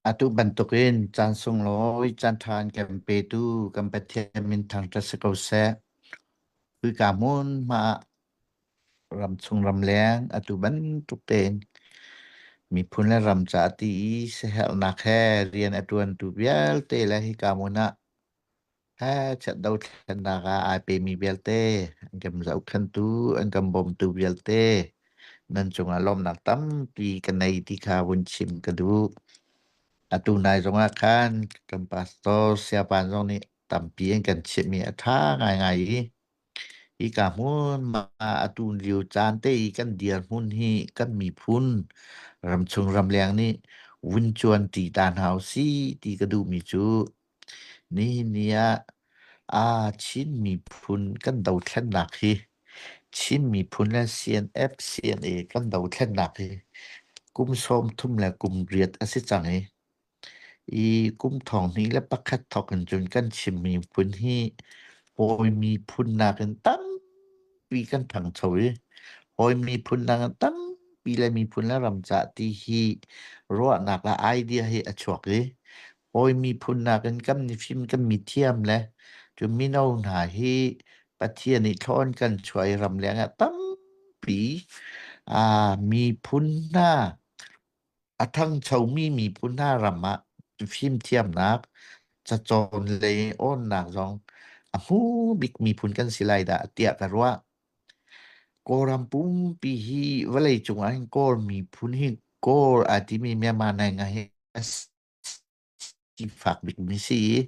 Atu bantukin caan sunglawi caan ṭhan kan petu kan Pathian min thangṭhat si ko seh. Khika hmunhma ah ramchung ramleng atu bantuk tein miphun le ram ca ti i siaherhnak he rian a ṭuantu vialte le hika hmun ah He chiat dothlennak ah ai pemi vialte an kan zohkhentu an kan bawmtu vialte nan cungah lawmnak tampi ka nei ti kha vun chim ka duh. Atu nai zongah khan kan pastor siapan zong nih tampi an kan chimhmi a ṭha ngaingai i hika hmun ma atu lio caan te i kan dirhmun hi kan miphun ramchung ramleng nih vun cuanṭi ta hna u si ti ka duhmi cu Nihin ni ah aa Chin miphun kan dothlennak hi Chin miphun le CNF CNA kan dothlennak hi kum sawm thum le kum riat a si cang i i kum thong hnih le pakhat thawk in cun kan Chin miphun hi hawi miphun nakin tampi kan ṭhangcho i hawi miphun nakin tampi le miphun le ram ca ti hi ruahnak le idea hi a chuak i Hawi miphun nakin kan mifim kan mithiam le cu mino hna hi Pathian i thlawn kan chuai ram lengah tampi ah miphun hna a thangchomi miphun hna ram ah fimthiamnak cacawn lei awnnak zong a hmu bik miphun kan si lai dah tiah ka ruah. Kawlram pumpi hi vawleicung ah hin Kawl miphun hi Kawl a timi Myanmar nai ngah hi a si Hi fak bikmi si i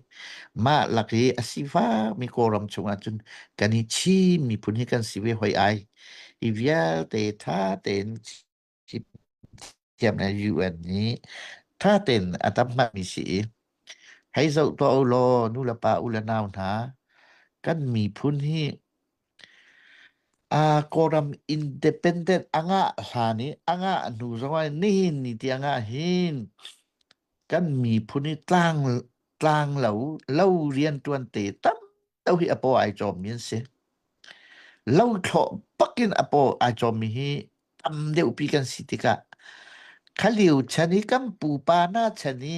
mah lak i a sifakmi Kawlram chungah cun kan i Chin miphun hi kan si ve hoi ai. Hi vialte ṭha tein chim thiam le UN nih ṭha tein a tam hngami si i hei zoh tuah u law nu le pa, u le nau hna, kan miphun hi aa Kawlram independent a ngah hlan i a ngah hnu zong ah nihin ni ti a ngah hin kan miphun i tlang tlanglo lo riantuan te tam deuh hi a paw ai cawmmi an si. Lo thlawh bakin a paw ai cawmmi hi tam deuhpi kan si tikah kha liu chan i kan pupa hna chan i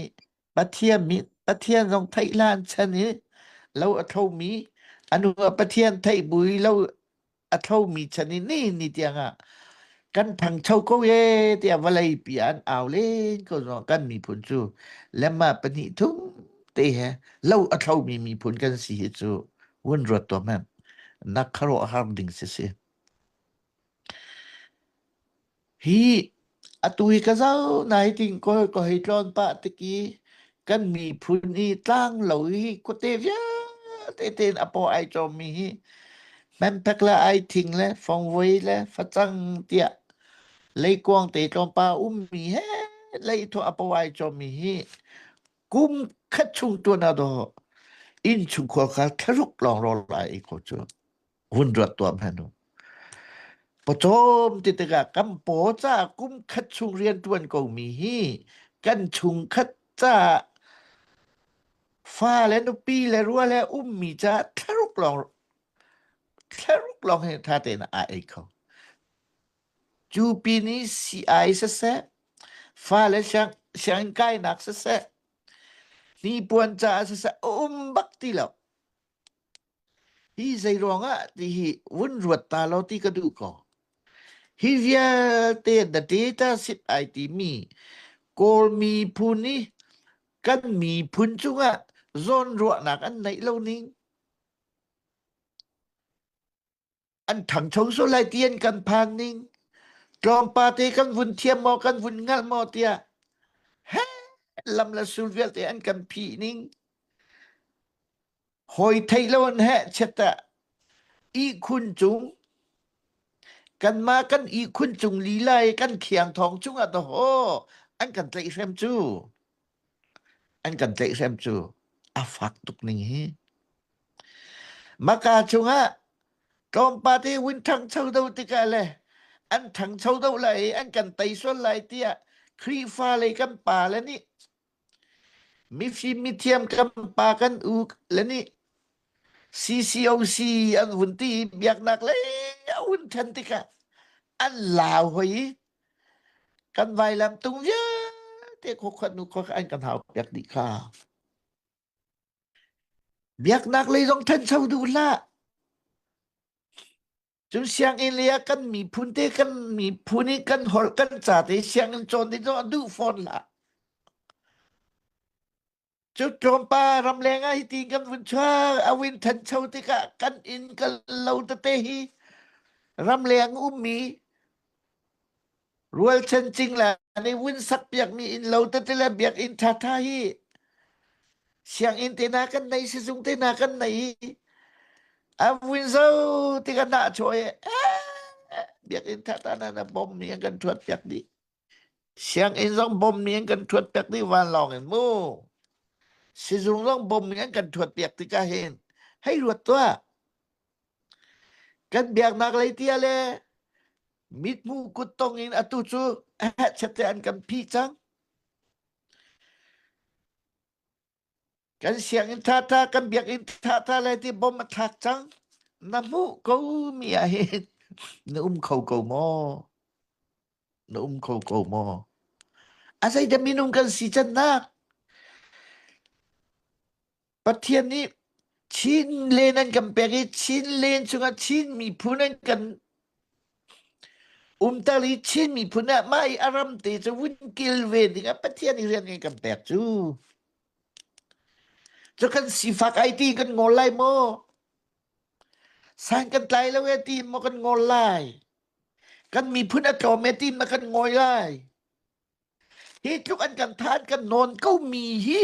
Pathian, mi, Pathian zong theih hlan chan i lo a thomi anu a Pathian theih bui lo a thomi chan i ni ni tiangah kan phangcho ko ye tiah vawlei pi an au len ko zo kan miphun cu lemma pahnih thum te he lo a thomi miphun kan si hi cu wun ruat tua men nak kharawh har ding si si Hi atu hi ka zau nai ting ko ko hei tlawn pah tik i kan miphun i tlang lo hi kute vialte tein a paw ai cawmmi hi Hmempek le ai thing le fongvoi le facang tiah leikuang te tlawmpal ummi he lei thuah a pawai cawmi hi kum khat chung tuan a daw inn chung khua kha tharuk lawng rawl lai i kho cu. hun ruat tuam han u. Pawcawm ti tikah kan paw ca kum khat chung rian tuan ko mi hi kan chung khat ca fa le nupi le rua le um mi ca thlaruk lawng thlaruk lawng he tha te na a ei kho. Cu pi ni si ai se se fa le siang siang kai nak se se ni puan ca se se um bak ti lo. hi zeiruangah tihi vun ruat ta lo ti ka duh ko hi vialte the data sit ai timi kawl miphun i kan miphun cungah zawn ruahnak an neih lo ning an ṭhangcho sual lai ti an kan phan ning tlawmpal te kan vun thiam maw kan vun ngalh maw tiah he lam le sul vialte an kan phi ning hoi thei lo an he cheta i khun cung kanma kan i khun cung lilai kan khiang thong chungah to ho an kan tlaih hrem cu an kan tlaihhrem cu a fak tuk ning hi maka chungah tlawmpal hi win ṭhangcho do tikah le an ṭhangcho do lai i an kan tei sual lai tiah Khrihfa lei kan pa le nih mifim mithiam kan pa kan u le nih CCOC an hun ti i biaknak lei a hun ṭhen tikah an lau hoi i kan vailam tung vialte khuakhuat nu khuak an kan hau piak dih kha biaknak lei zong ṭhancho duh hlah cun sianginn lei ah kan miphun te kan miphun i kan holh kan ca te sianginn cawn ding zong duh fawn hlah Cu tlawmpa ramleng ah hitin kan vun chuak a win thancho tikah kan in kan lo tete hi ramleng ummi rualchan cingla nei wun sak piakmi in lo tete le biakinn thatha hi sianginn te na kan nei sizung te na kan nei a win zo ti kan na choi biakinn thatha na na bom mi kan thuat piak dih Sianginn zong bawmmi an kan ṭhuatpiak dih vanlawng in mu. Sizung zong bawmmi an kan ṭhuatpiak tikah hin hei ruat tuah. Kan biaknak lei tia le mithmu kuttong in atu cu hetchete an kan phi cang. Kan sianginn thatha, kan biakinn thatha le ti bom a thlak cang. Na hmuh ko mi ah hin na um kho ko maw? Na um kho ko maw? A zei da minung kan si can nak? Pathian nih Chin len an kan pek i Chin len chungah Chin miphun an kan Umter hi Chin miphun ah mah i a ram te cu vun kilve dingah Pathian i rian kan pek cu. Cu kan sifak ai ti kan ngol lai maw? San kan tlai lo e ti maw kan ngol lai? Kan miphun a tlawm e ti maw kan ngoi lai? Hi tluk an kan than kan nawn ko mi hi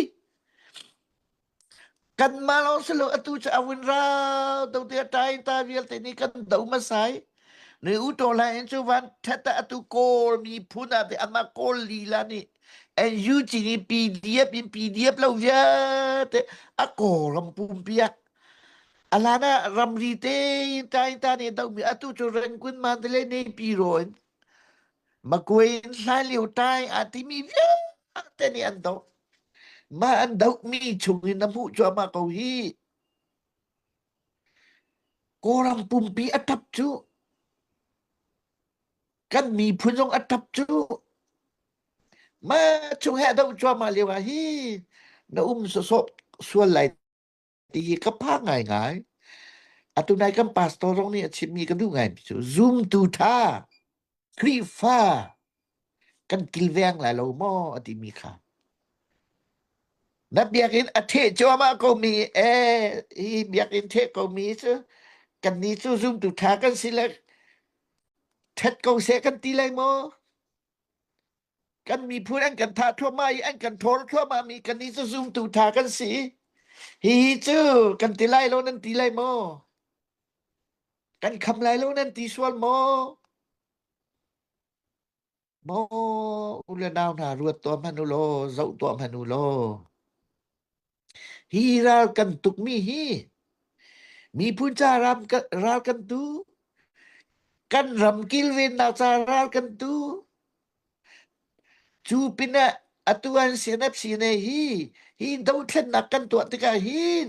kanmah lawng si lo atu cu awin ra do te tai ta vialte ni kan do ma sai ni u to la in chu van thata atu kawl mi phun a te ama kawl lila ni en yu chi ni pdf in pdf lo viate a kolam pum pia alana ramri te in tai ta ni do mi atu chu ren kun man te le nei pi roin Makuin hlai lio tai aa timi vialte nih an doh. Mah an dohmi chung in na hmuh cuahmah ko hi. Kawlram pumpi a tap cu. Kan miphun zong a tap cu. Ma chung he doh cuahmah lio ah hi na um sawsawp sual lai Ti hi ka pa ngaingai. Atu nai kan pastor zong nih a chimmi ka duh ngaimi cu zumtu ṭha, Khrihfa kan kilveng lai lo maw a timi kha. Na biakinn a ṭheh cuahmah komi ee hi biakinn ṭheh komi cu kannih cu zumtu ṭha kan si le ṭhat ko seh kan ti lai maw? Kan miphun an kan thah thluahmah i an kan thawl thluahmah mi kan nih cu zumtu tha kan si. Hi hi cu kan ti lai lo nan ti lai maw? Kan kham lai lo nan ti sual maw? Maw u le nau hna ruat tuah hmanh u law, zoh tuah hmanh u law. Hi ral kan tukmi hi miphun ca ram ral kan tu kan ram kilvennak ca ral kan tu cu pinah atu an CNF sine hi hi dothlennak kan tuah tikah hin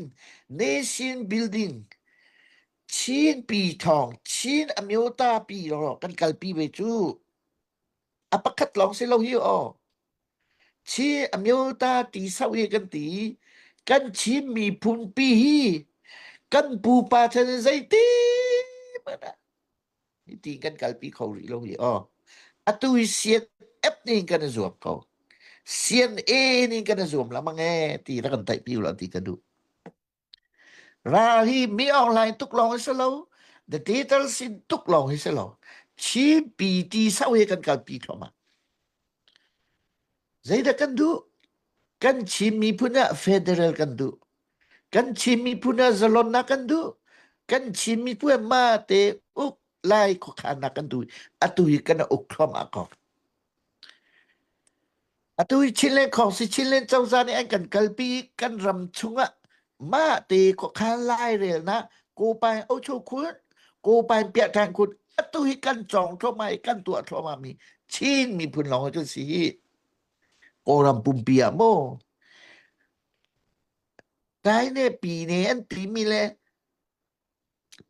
nation building Chin pi thawng Chin amyota pi lawlaw kan kalpi ve cu A pakhat lawng si lo hi aw. Chi a myo ta ti sau hi kan ti. Kan Chin miphun pi hi kan pupa chan in zeitin mana ti kan kalpi kho rih lo hi aw. Atu i sian ep ning kan i zuam ko. Sian e ning kan i zuam la mang e ti rak kan taih pi lo ti ka duh. Ra hi mi ohlai tuk lawng hi si lo, the title sin tuk lawng hi si lo. Chin PT sau hi kan kalpi thluahmah. Zeidah kan duh? Kan Chin miphun ah federal kan duh. Kan Chin miphun ah zalonnak kan duh. Kan Chin miphun ah ma te uk lai khuakhannak kan duh. Atu hi kan uk thluahmah ko. Atu hi Chinland khawng si Chinland cozah nih an kan kalpi i kan ram chungah mah te khuakhan lai rel na Kopain Ocho Kun Kopain Piahthan Kun atu hi kan cawng thluahmah i kan tuah thluahmah mi Chin miphun lawng hi kan si hi Kawlram pumpi ah maw Dai ne pine an pi mi le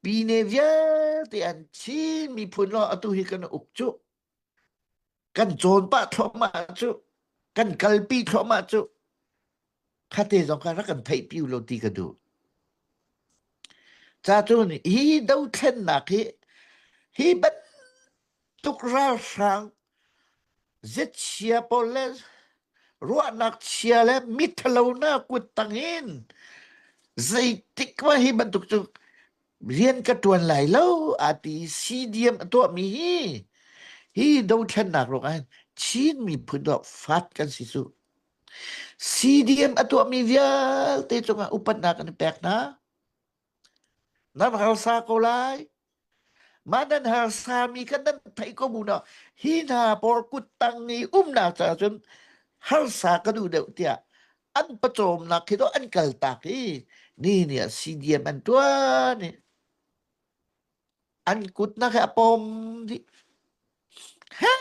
pine vialte an Chin miphun lawng atu hi kan uk cuh Kan cawn pah thluahmah cu, kan kalpi thluahmah cu, phate zong kha rak kan theih piu lo ti ka duh. Ca cu nih hi dothlennak hi, hi bantuk ralhrang ziachia pawl le ruahnak chia le miṭhalonak kuttang in zeitik mah hi bantuk cu rian ka ṭuan lai lo a ti siidiam a tuahmi hi hi dothlennak ruangah hin Chin miphun ruang fat kan si cu CDM a tuahmi vialte cungah upatnak kan i pek hna nan harsa ko lai mah nan harsa mi kha nan theih ko bu naw hi hna pawl kut tang i umnak caah cun harsa ka duh deuh tiah an pawcawmnak khi to an kaltak i ni ni ah CDM an tuan i an kutnak he a pom dih he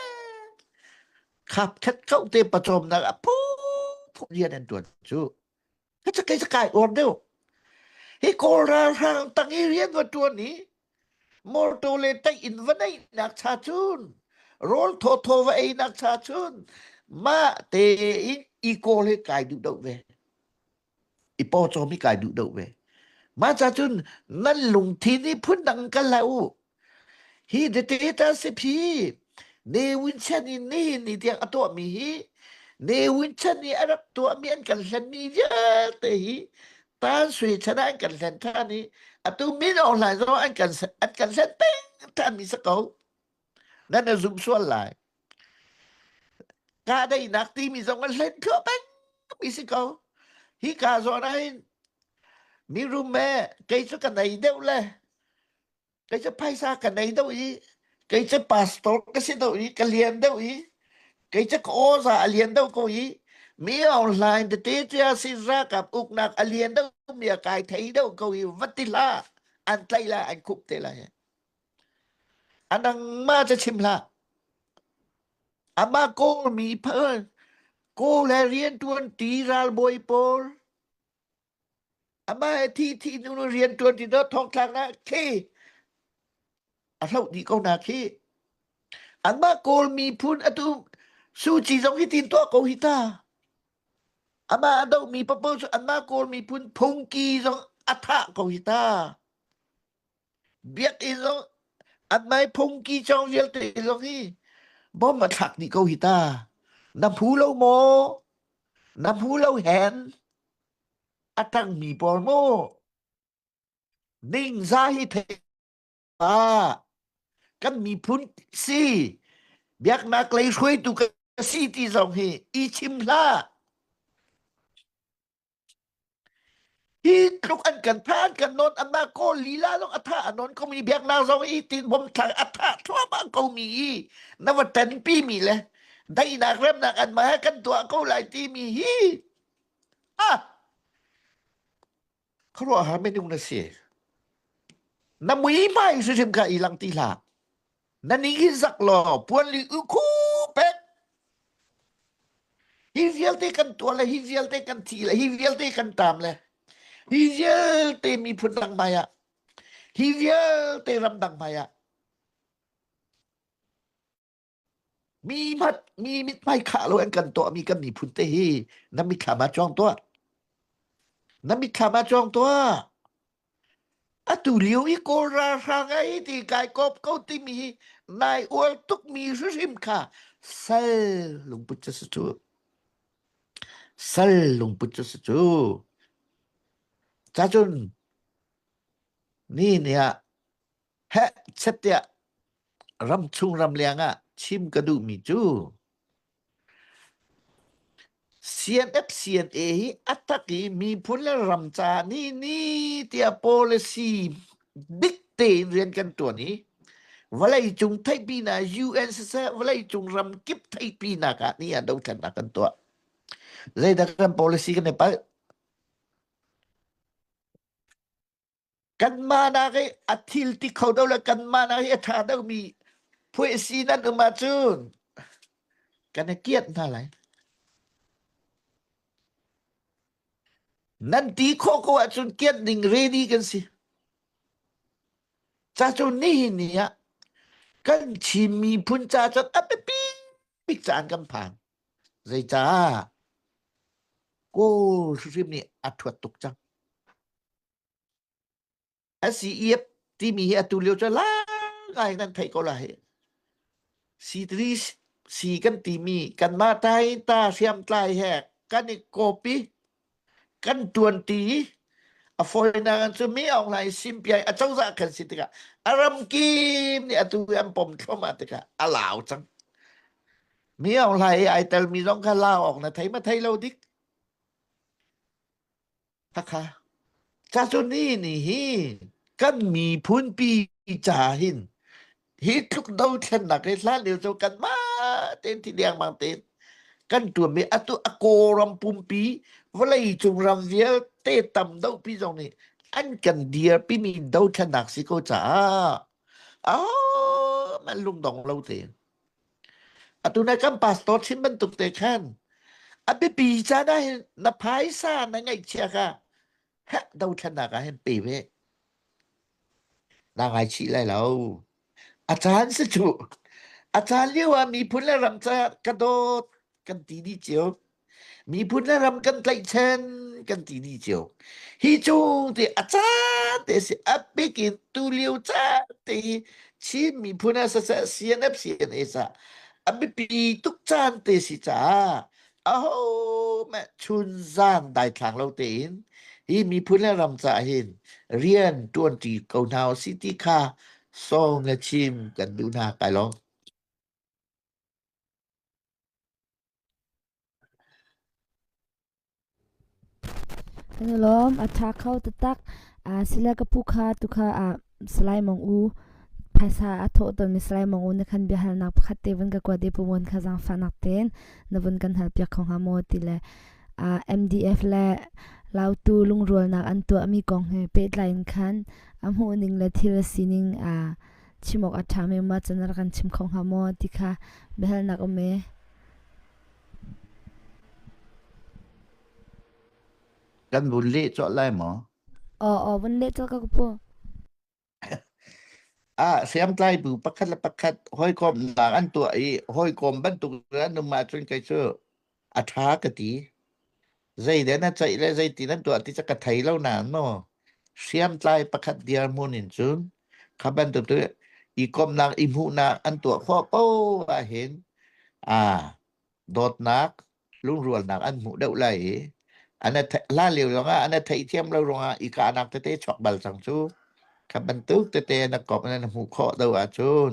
khap khat kau te pawcawmnak a phu phu rian an tuan cu he ca kai ca kai uar deuh hi kawl ralhrang tang i rian wa tuan i morto le taih in va neihnak cha chun rawl thawthaw va einak cha chun ma te in i kawl he kai duh do ve i po cho mi kai duh do ve ma cha chun nan lungthin i phun dang kal la u hi de te ta se phi Ne Win Sen in nihin ni tiang a tuahmi hi Ne Win Sen i a rak tuahmi an kan hlenmi vialte hi Tan Sui chan ah an kan hlen ṭhan i atu Min Aung Hlaing zong an kan an kan hlen peng ṭhanmi si ko. Nan na zum sual lai. Kahdaihnak timi zong an hlen khawh pengmi si ko. Hi ka zawn ahhin mi rum e, kei cu ka nei deuh le kei cu phaisa ka nei deuh i kei cu pastor ka si deuh i ka lian deuh i kei cu ka oza a lian deuh ko i mi online tete cia si rakap uknak a lian deuh mi a kai thei deuh ko i vati la an tlai la an khup te la anang ma cha chim la ama kol mi phal ko le rian tuan ti ral boi pol Amah hi thi hnu rian ṭuan ding dawh thongthlak na khi a hloh dih ko na khi. Anmah Kawlmi phun atu Suci zong hi tin tuah ko hi ta. Amah a dohmi papaw cu anmah Kawlmi phun Phungki zong a thah ko hi ta. Biakinn zong an mai phungki chong vialte zong hi bom a thlak ni ko hi ta. Na phu lo maw? Na phu lo hen a tang mi por mu. Ning za hi thei pa. Kan mi phun si. Biaknak lei hruai tu ka si ti zong hi i chim hla. Hi tluk an kan tha an kan non anna ko lila long atha anon ko mi biak na zo i tin bom thla atha thluamang ko mi i na va tan pi mi le dai nak rem nak an ma kan tua ko lai ti mi hi ah khro ha me ding na si na mui mai su sim ka ilang ti la na ni hi zak law puan li u khu pek hi vialte kan tuah le hi vialte kan thi le hi vialte kan tam le hi vialte miphun dang hmai ah hi vialte ram dang hmai ah mi mat mi mit hmai khah lo an kan tuah mi kan miphun te hi na mit thla ma chuang tuah na mit thla ma chuang tuah Atulio hi Kawl ralhrang a i ti kai kawp ko timi hi nai ual tukmi hrihrim kha sal lungput cu si cu. Sal lungput cu si cu. Cacun ni ni ah heh chetiah ram chung ram leng ah chim ka duhmi cu CNFCNA hi a tak i miphun le ram caah ni ni tiah policy dik tein rian kan ṭuan i vawleicung theihpinak UN siseh vawleicung ramkip theihpinak ah ni ah dothlennak kan tuah. Zeidah kan policy kan i palh? Kanmah nak i a thil ti kho do le kanmah nak i a ṭha domi phuih si nan um ahcun kan i kiat hna lai. Nan ti khawh ko ahcun kiat ning ready kan si. Ca cu nihin ni ah kan chim miphun ca cun a biapi bik caan kan phan. Zeicah? Kawl hrim nih a thuat tuk cang. SCEF timi hi atu lio cu lai nan theih ko lai. Sitri si kan timi kan mah tai ta hriam tlai he kan i copy kan tuan ti a foina kan cu mi ong lai sim piai a cozah kan si tikah a ram kim nih atu an pom thlom a tikah a lau cang mi ong lai ai tel mi zong kha lau ong na thei ma thei lo dik Cazuni nih hin kan miphun pi ca hin hi tluk dothlennak hi hlan lio cu kanmah tein thi liangmang tein kan tuam i atu a kawlram pumpi vawleicung ram vialte tam dohpi zong nih an kan dirpimi dothlennak si ko caah ah man lungdong lo tein Atu na kan pastor chim bantuk te khan a biapi caan ah hin na phaisa na ngeihchia kha heh dothlennak ah hin pe ve na ngaichih lai lo a caan si cu a caan lio ah miphun le ram ca ka dawt kan ti dih cio miphun le ram kan tlaihchen kan ti ni cio hi chung te a ca te si a pek in tu lio ca te hi Chin miphun a sa CNF CNA sa a bipi tuk caan te si caah a ho me chun zan dai thlang lo te in hi miphun le ram ca hin rian tuan ti ko hna si ti kha song le chim kan du hna kai lo Lawm a ṭha kho taktak. Sila ka pu kha tukha ah salai mong u phaisa a thawh tawnmi salai mong u na khan biahalnak pakhat te vun ka kuat i pumun kha zaangfahnak tein na vun kan hal piak kho hnga maw ti le MDF le Lautu lungrualnak an tuahmi kong he pehtlai in khan a hmuhning le thil sining chim awk a ṭhami ma cun a rak kan chim kho hnga maw ti kha biahalnak um ee. Kan vun leh cawt lai maw? Aw aw vun leh cawt ka pu. Ah, siam tlai bu pakhat le pakhat hoi kom nak an tua i hoi kom bantuk an um ah cun kai cu a ṭha ka ti. Zeiden na ceih le zeiti nan tuah ti cu ka thei lo nain maw hriamtlai pakhat dirhmun in cun kha bantuk tu i komnak i hmuhnak an tuah khawh ko ahhin aa dawtnak lungrualnak an hmuh deuh lai i an hlan lio ruangah an theihthiam lo ruangah i kahnak tete chuak bal cang cu kha bantuk tete na komh na hmuh khawh do ahcun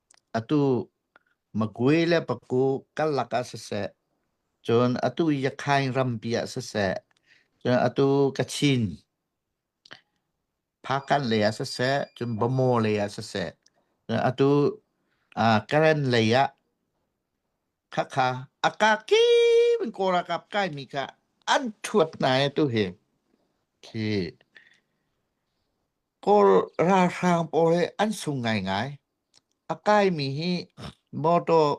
Atu Magwe le Paku karlak ah siseh, cun atu Yakhain rampi ah siseh, cun atu Kachin, Phakan lei ah siseh, cun Bamo lei ah siseh, cun atu uh, Karen lei ah khakha akaki in korakap kai mi kha an thuat na e tu hi khi Kawl ralhrang pawl hi an sung ngaingai. A kaimi hi mawtaw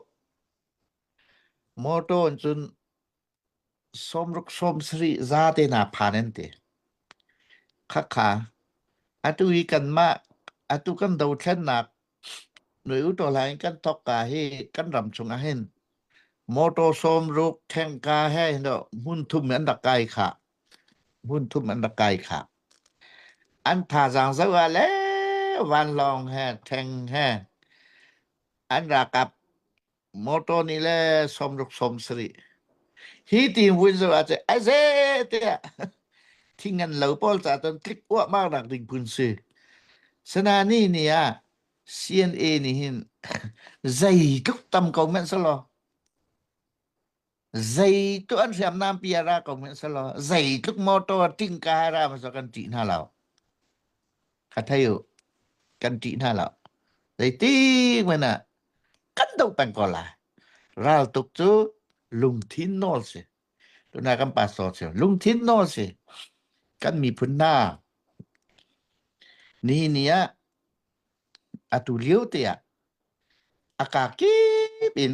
mawtaw in cun sawmruk sawmsarih za te na phan an ti. Khakha. Atu hi kanmah atu kan dothlennak Nui uṭaw lai in kan thok ka hi kan ram chungah hin motor sawm ruk khengka he no hmun thum an rak kai kha hmun thum an rak kai kha an thazaang zo ah le vanlawng he theng he an rakap motor ni le som ruk som sari hi ti hun zo a che ai ze te thi ngan lo pawl cha ton click wa ma rak ding kun si sana ni ni a CNA ni hin zei tluk tam ko men salo Zei tu an hriamnam pi ara ko min selaw zeitluk motor tingka ara maso kan tih hna lo. Ka thei u kan tih hna lo. Zeitik men ah kan do peng ko lai. Ral tuk cu lungthin nawl si. Tuna kan paso si. Lungthin nawl si. Kan miphun hna. Ni ni ah atu lio te ah akakip in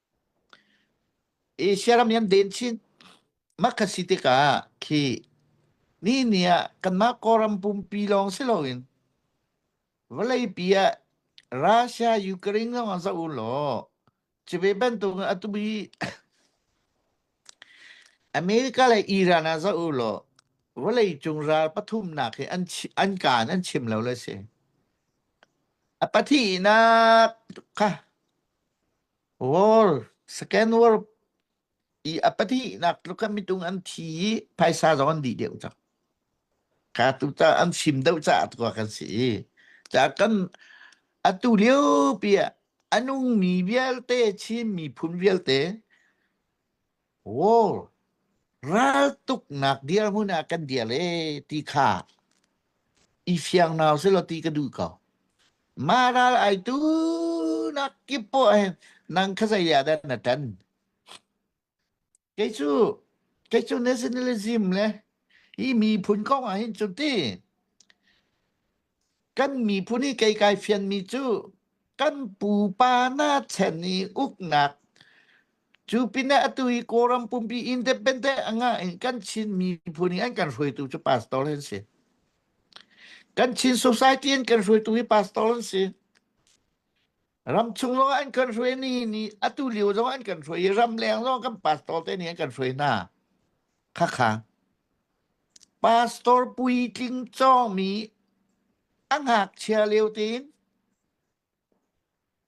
Asia ram niam den chin mak kan si tikah khi ni ni ah kanmah Kawlram pumpi lawng si loin vawleipi ah Russia Ukraine lawng ah zoh u law cuve bantukin atu hi America le Iran ah zoh u law vawleicung ral pathumnak hi an an kaan an chim lo le si. A pahnih nak kha Wall, second world i a pahnihnak tluk ah mitung an thi i phaisa zong an dih deuh cang. Ka tu ca an sim deuh caah tuah kan si i ca kan atu lio pi ah a nung mi vialte Chin miphun vialte Wall raltuknak dirhmun ah kan dir le ti kha i fiang nau selaw ti ka duh ko. Ma ral ai tu nak kip po eh nang kha zai ya da na tan. Kei chu kei chu nationalism le hi mi phun kong ah hin chu ti Kan miphun i kei kai fianmi cu kan pupa na chan i uknak cu pinah atu hi Kawlram pumpi independent a ngah in kan Chin miphun i an kan hruaitu cu pastor an si. Kan Chin society in kan hruaitu hi pastor an si. Ramchung zong an kan hruai ni ni atu lio zong an kan hruai i ramleng zong kan pastor te nih an kan hruai hna. Kha kha. Pastor puitling cawmi a ngakchia lio tein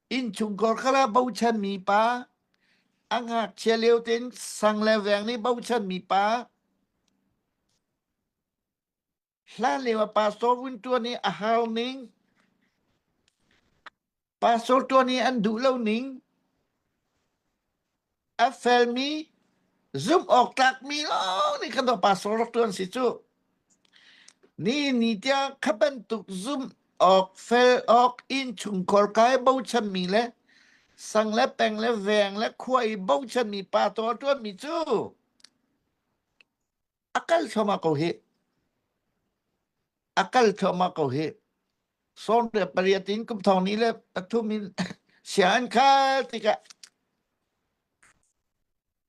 innchungkhar kha la bochanmi pa, a ngakchia lio tein sang le veng nih bochanmi pa, hlan lio ah pastor vun ṭuan i a hau ning. Pastor ṭuan i an duh lo ning a felmi zumhawktlakmi lawng nih kan tuah pastor rak ṭuan si cu. Ni ni tiang kha bantuk zumh awk fel awk innchungkhar kai bochanmi le sang le peng le veng le khua i bochanmi pa tuah ṭuanmi cu a kal thluahmah ko hi a kal thluahmah ko hi sawn le pariat in kum thong ni le pathum in sian khal tikah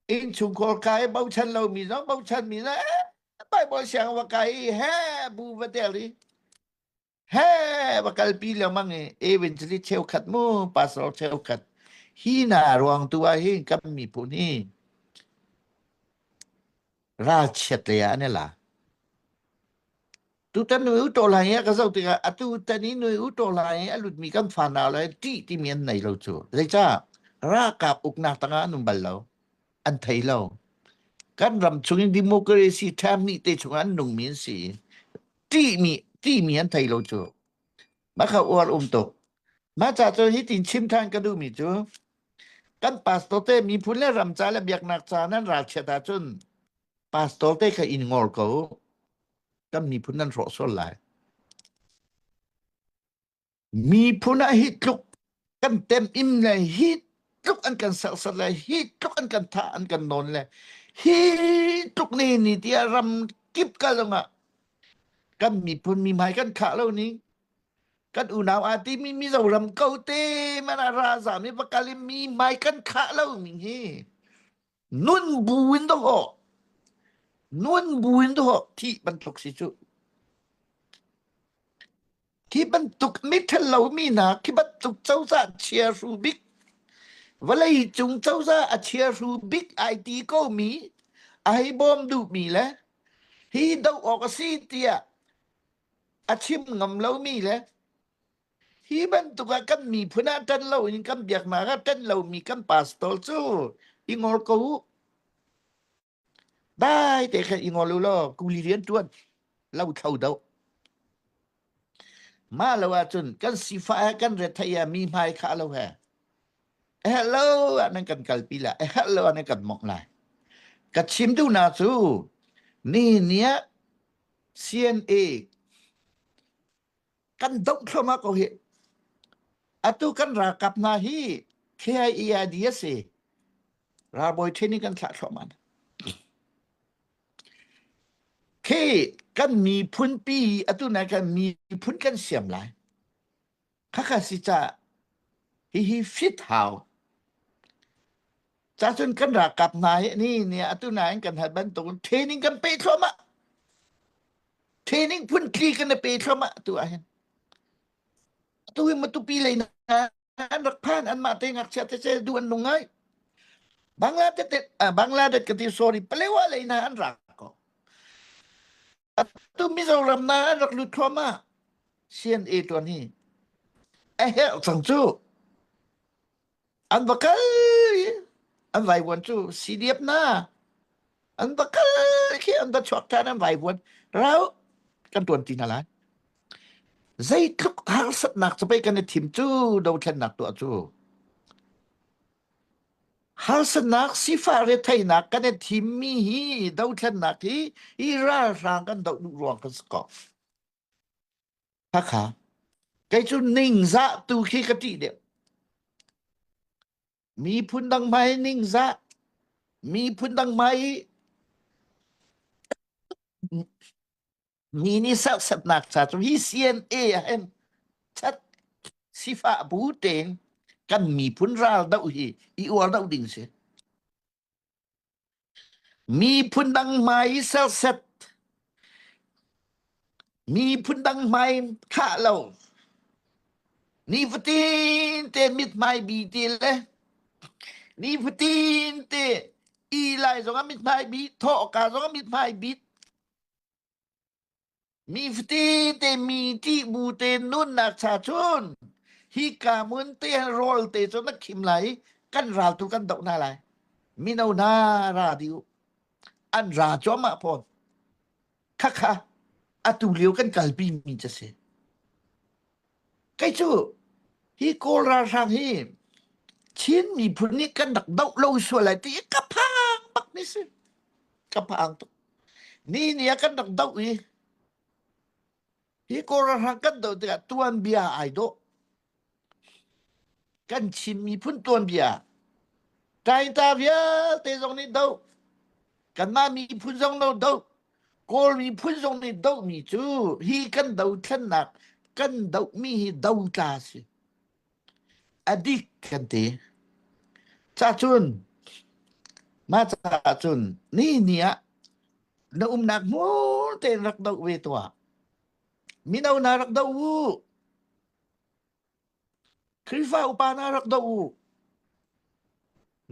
in chungkor kai bochan lo mi no bochan mi na bible siang wa kai he bu va tel i he va kalpi lengmang i eventually cheukhat mu pastor cheukhat hi na ruang tu ah hin kan miphun hi ralchiat lei ah an i la tutan nui u to lai i ka zoh tikah atu tan i nui u to lai i a lutmi kan fa nau lai ṭih timi an nei lo cu zeicah ralkap uknak tangah an um bal lo an thei lo. Kan ram chung in democracy term nih te chung an nungmi an si. Timi timi an thei lo cu. Maka uar um tuk. Ma cha cu hi tin chim than ka duhmi cu kan pastor te mi phun le ram ca le biaknak ca nan ral chiat ahcun pastor te kha in ngor ko kan miphun nan hrawh sual lai Miphun ah hi tluk kan tem im le hi tluk an kan serset le hi tluk an kan tha an kan nawn le hi tluk ni ni tiah ram kip kal lungah kan miphun mihmai kan khah lo ni kan unau aa ti mi Mizoram ko te man a ra zam i pakal i mi mai kan khah lo mi hi nun bu in do ho nun bu in do ho thi bantuk si cu khi bantuk mithal lo mi na khi bantuk cozah chia ru bik vawlei cung cozah a chia ru bik ai ti ko mi ai bawm duh mi le hi doh awk a si tiah a chim ngam lo mi le Hi bantuk ah kan miphun ah tan lo in kan biaknak ah tan lomi kan pastor cu i ngol ko u. Dai te khan i ngol u law kuli rian tuan lo thlo do. Ma lo ahcun kan sifah he kan ret thai ah mi hmai kha lo he. E hello ah nan kan kalpi la. E hello ah nan kan mok la. Ka chim tu na cu ni nia CNA kan doh thloma ko hi atu kan ralkap hna hi KIEID a si ralbawi ṭhen in kan thlah thluahman khi kan miphun pi atu nai kan miphun kan siam lai khakha si cha hi hi fit how Cacun kan rakap hna hi ni ni atu nain kan hat bantukin training kan pe thluahmah. Training phun tli kan pe thluahmah tu ahhin. Tu hi matupi lei na an rak phan an mah te ngakchia te se du an nung ngai. Bangladesh bangladesh ka ti sorry palewa lei na an rak ko. tu Mizoram na an rak lut thluamah CNA tuan hi a herh cang cu an va kal an vai vuan cu CDF na an va kal khi an va chuak than an vai vuan rau kan tuan ti na lai zeitluk harsatnak ca pei kan i thim cu do thlennak tuah cu Harsatnak sifah retheihnak kan i thimmi hi dothlennak hi hi ralhrang kan doh duh ruang kan si ko. Hakha. Kei cu ningzah tu khi ka tih deuh. Miphun dang mai ningzah. Miphun dang mai ni ni serhsatnak ca cu hi CNA ah hin chat sifah bu tein kan miphun ral doh hi i uar doh ding si miphun dang hmai serset miphun dang hmai khah lo ni fatin te mit hmai bi ti le ni fatin te i lai zong a mit hmai bi thaw ka zong a mit hmai bi Mi fatete mi ṭih bu te nunnak cha cun hika hmun te rawl te cu na khim lai i kan ral tu kan doh hna lai. Mino na ra di u. An ra cuahmah fawn. Khakha atu lio kan kalpi mi cu si. Kei cu hi Kawl ralhrang hi Chin miphun nih kan rak doh lo sual ai ti i ka phang bak mi si. Ka phang tuk. Ni ni ah kan rak doh i hi Kawl ralhrang kan doh tikah tuanbia ai dawh. Kan Chin miphun tuanbia Tainta vialte zong nih do. Kanmah miphun zong lo do. Kawl miphun zong nih dohmi cu hi kan dothlennak kan dohmi hi dotla a si. Adik kan ti. Cacun mah caah cun ni ni ah na umnak hmur tein rak doh ve tuah. Mino na rak doh u. Khrihfa upa na rak doh u.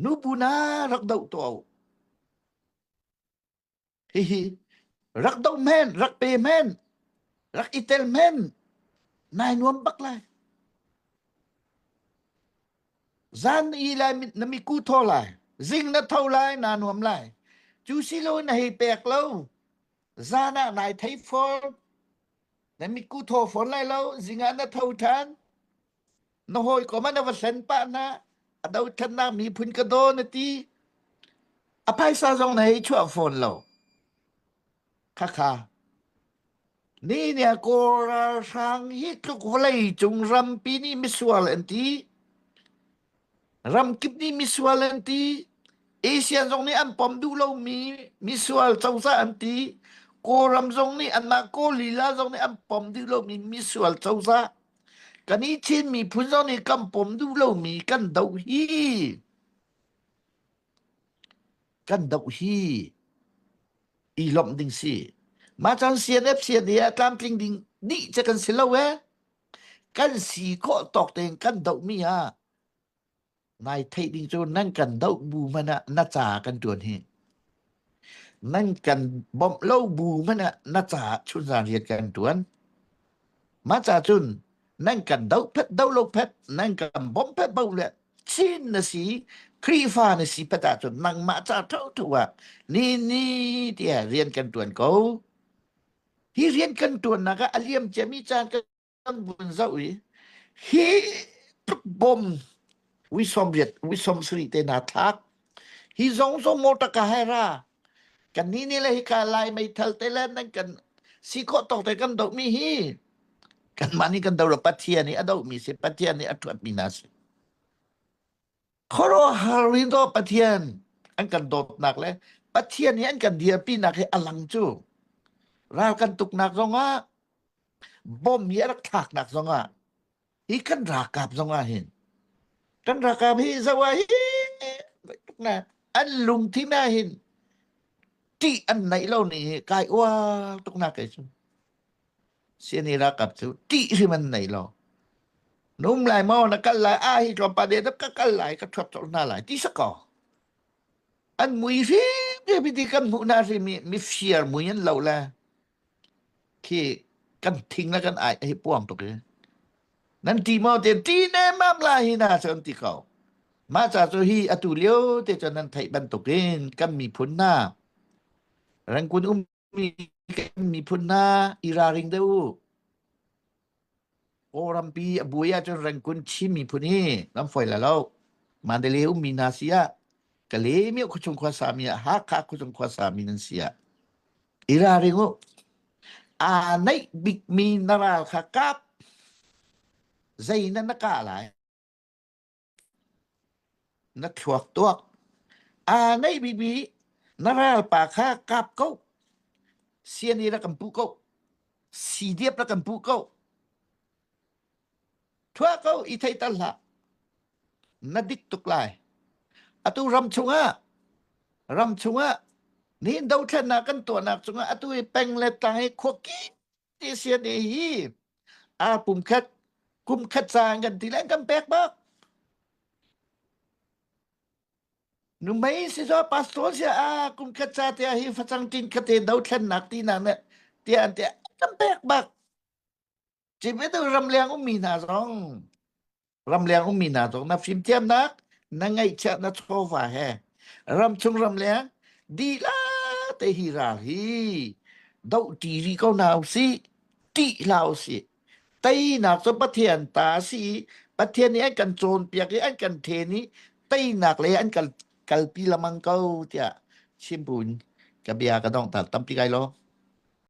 Nubu na rak doh tuah u. Hihi rak do men, rak pe men, rak itel men, nai nuam bak lai. Zan i lai na mi ku tho lai. Zing na tho lai, na nuam lai. Cu si lo na hei pek lo. Zan ah nai thei fol. Na mi ku tho fol lai lo. Zinga na tho than. na hawikom ah na va hlen pah hna a doṭhatnak miphun ka daw na ti a phaisa zong na hei chuah fawn lo khakha ni ne kawlralhrang hi tluk vawlei cung rampi nih misual an ti ramkip nih misual an ti asian zong nih an pom duh lomi misual cosa an ti kawlram zong nih anmah kaw lila zong nih an pom duh lomi misual cosa Kan i Chin miphun zong nih kan pom duh lomi kan doh hi kan doh hi i lomh ding si. Mah cun CNF CNA ah tlamtling ding nih ce kan si lo ee. Kan si khawh tawk tein kan dohmi ah nai theih ding cu nan kan doh bu man ah na ca kan tuan hi nan kan bawmh lo bu man ah na ca chun zan riat kan tuan ma ca chun nan kan do phet do lo phet nan kan bom phet bo le chin na si khrifa na si phet ah chun nang ma ca tho tho a ni ni tia rian kan tuan ko hi rian kan tuan na ka aliam chemi chan ka kan vun zoh i hi tuk bom wi som riat wi som sri te na thak hi zong zong mo taka hai ra kan ni ni le hi ka lai mei thal te le nan kan si ko to te kan do mi hi kan mani kan do lo pathian i a do mi si pathian i a thuat mi na si Khuaruahhar rito Pathian an kan dawtnak le Pathian hi an kan dirpinak hi a lang cu ral kan tuknak zongah bom hi a rak thlaknak zongah hi kan ralkap zongah hin kan ralkap hi zawa hi na an lungthin ah hin tih an neih lo ni hi kai uar tuk nak kai cu Sini rakap cu ṭih hrim an nei lo. Num lai mo na kal lai a hi tlawm pa de ka kal lai ka thuap chol hna lai ti sako. An mui hrim ke piti kan hmu na hrim i mi fiar mui an lo le khi kan thing la kan ai hi puam tuk i nan ti mo te ti ne mam la hi na chon ti ko ma cha chu hi atu lio te chon nan thei ban tuk in kan mi phun na rang kun um Mi miphun hna i ralring deuh u. Aw rampi a buai ahcun rengkun Chin miphun hi nan foi la lo. Mandale ummi hna si ah ka lemio khuachung khuasa mi ah Hakha khuachung khuasa mi nan si ah i ralring u. Aa neih bikmi na ral kha kap. Zei na na kah lai? Na thluak tuak, aa ngeih bikmi na ralpa kha kap ko. Siani rak kan puh ko. Sidiap rak kan puh ko. Thua ko i thei tal hlah. Na dik tuk lai. Atu ram chungah, ram chungah, nihin dothlennak kan tuahnak chungah atu i peng le tlang i khuaki Asian hi a pumkhat kumkhat caan kan ti leng kan pek bak numai si so pastor sia a kumkhat ca te hi facang kin kha te do thlen nak ti na me ti an te kan pek bak chim e tu ram leng um mi hna zong Ramleng ummi hna zong na fimthiamnak, na ngaihchiat, na chawva he ramchung ramleng dilah te hi ral hi doh ṭi rih ko hna usih, ṭih hlah usih. Teinak cu Pathian ta a si i Pathian nih an kan cawnpiak i an kan ṭhen i teinak le an kal kalpi lemang ko tiah chimbuin ka bia ka dong tal tampi kai lo.